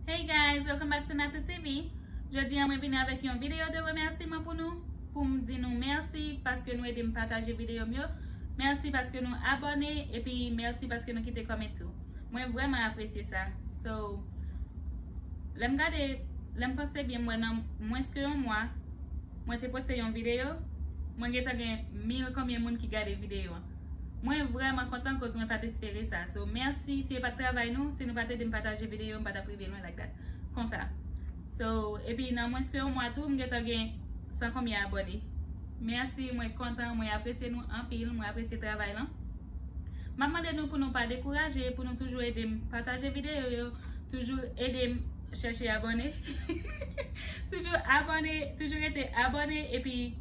Hey guys, welcome back to Natou TV Jodi an mwen vini avèk yon videyo de remèsiman pou nou Pou m di nou mèsi paske nou ede m pataje videyo m yo Mèsi paske nou abòne epi mèsi paske nou kite kòment tou Mwen vrèman apresye sa So, lè m gade, lè m panse byen m wè nan mwens ke yon mwa Mwen te poste yon videyo Mwen gentan gen mil konbyen moun ki gade videyo an Mwen vrèman kontan koz mwen pat espere sa so merci si e pat travay nou si nou pat edem pataje video m patap rive lwen like that konsa so epi nan mwens ke yon mwa tou m gentan gen san konbyen abòne merci mwen kontan mwen apresye nou anpil mwen apresye travay lan map mande nou pou nou pa dekouraje pou nou toujou edem pataje video yo toujou edem chèche abòne toujou abòne toujou rete abòne epi.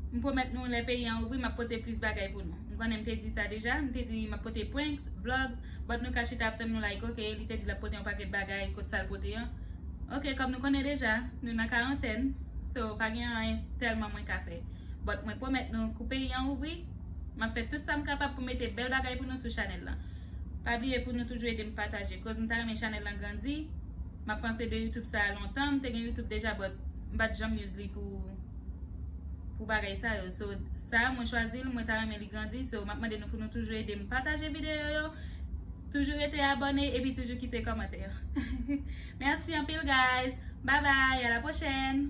M pwomèt nou lè peyi an ouvri map pote plis bagay pou nou. M konnen m te di sa deja, m te di map pote pranks, vlogs, but nou ka chita ap tann nou like ok, li te di lap pote yon pakèt bagay kot sal pote an? Ok kòm nou konnen deja nou nan karantèn so pa gen anyen tèlman mwen ka fè but mwen pwomèt nou kou peyi an ouvri map fè tout sam kapab pou mete bèl bagay pou nou sou chanèl lan. Pa bliye pou nou toujou edem pataje koz m ta renmen chanèl lan grandi, map panse de youtube sa lontan, m te gen youtube deja but. M pat janm use li pou pou bagay sa yo so sa mwen chwazi l mwen ta renmen li grandi so map mande nou pou nou toujou ede m pataje videyo yo toujou rete abone epi toujou kite komantè merci anpil guys bye bye a la prochèn.